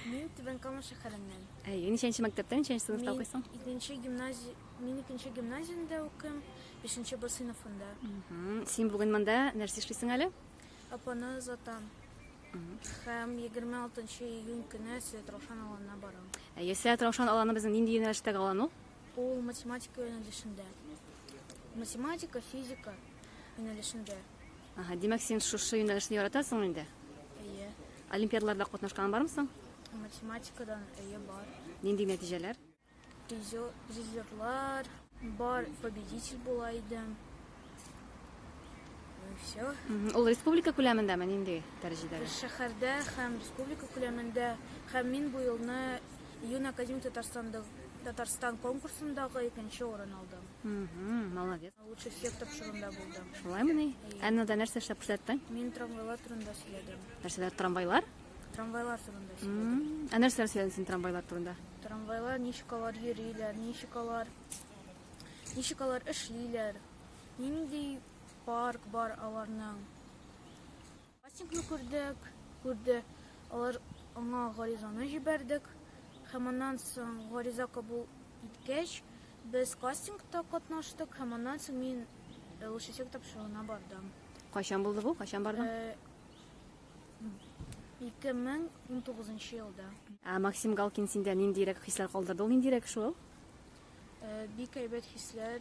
Мин Түбән Кама шәһәреннән. Әйе, ничәнче мәктәптә, ничәнче сыйныфта укыйсың? Мин икенче гимназия, мин икенче гимназиядә укыйм, бишенче Б сыйныфында. Син бүген монда нәрсә эшлисең әле? Апаны озатам. Һәм 26 июнь көне Сәет Раушан аланына барам. Әйе, Сәет Раушан аланы безнең нинди юнәлештәге алан ул? Ул математика юнәлешендә. Математика, физика юнәлешендә. Ага, димәк, син шушы юнәлешне яратасың инде? Олимпиадаларда катнашкан бармы соң? Математикадан әйе бар. Нинди нәтиҗәләр? Призер, призерлар бар, победитель була идем. Ну и все. Мгм. Ул республика күләмендәме нинди дәрәҗәдәге? Шәһәрдә һәм республика күләмендә һәм мин бу елны Юн Академия Татарстанда Татарстан конкурсындагы икенче урын алдым. Молодец. Лучше всех тапшырында булдым. Шулай мени? Әннәдә нәрсә эшләп күрсәттең? Мин трамвайлар турында сөйләдем. Нәрсәләр трамвайлар? Трамвайлар турында сөйләдем. Ә нәрсәләр сөйләдең син трамвайлар турында? Трамвайлар ничек алар йөриләр, ничек алар ничек алар эшлиләр, нинди парк бар аларның. Кастингны күрдек, күрде. Алар аңа гаризаны җибәрдек. Һәм аннан соң гариза кабул иткәч, без кастингта катнаштык һәм аннан соң мин э, участек тапшыруына бардым. Кайчан булды бу? Кайчан бардың? Э, 2019 елда. Ә Максим Галкин синдә ниндирәк хисләр калдырды? Ул ниндирәк шул? Э, бик әйбәт хисләр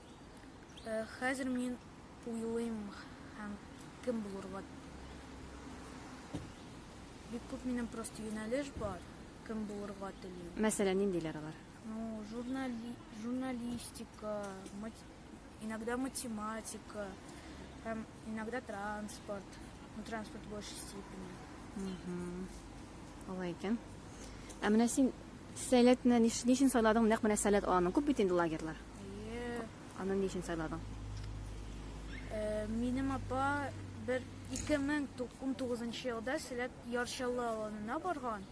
Э, хәзер мин уйлыйм һәм кем булырга. Бик күп минем просто юнәлеш бар, кем булырга телим. Мәсәлән, ниндиләр алар? Ну, журнали... журналистика, мат... иногда математика, һәм иногда транспорт. Ну, транспорт в большей степени. Угу. Алай икән. Ә менә син сәләтне ниш... ничен сайладың? Нәкъ менә сәләт аланың. Күп бит инде лагерьлар. Әйе. Аны ни өчен сайладың? Э, минем апа бер 2019 елда Сәләт Ярчалы авылына барган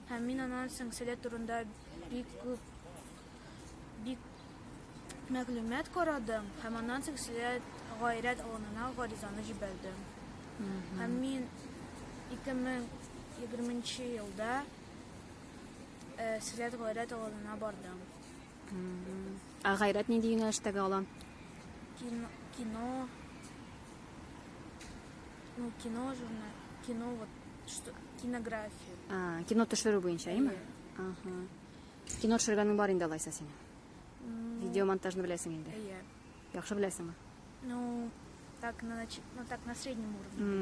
һәм мин аннан соң Сәләт турында бик күп бик мәгълүмат карадым һәм аннан соң Сәләт гайрәт авылына гаризаны җибәрдем. Һәм мин 2020 елда э, Сәләт гайрәт авылына бардым. Ә гайрәт нинди юнәлештәге алан? Кино, кино, ну, кино, журнал, кино, вот, что, кинография. А, кино төшерү буенча, әйме? Ага. Кино төшергәнең бар инде алайса синең? Видеомонтажны беләсең инде? Әйе. Яхшы беләсеңме? Ну, так на, нач... ну, так на среднем уровне.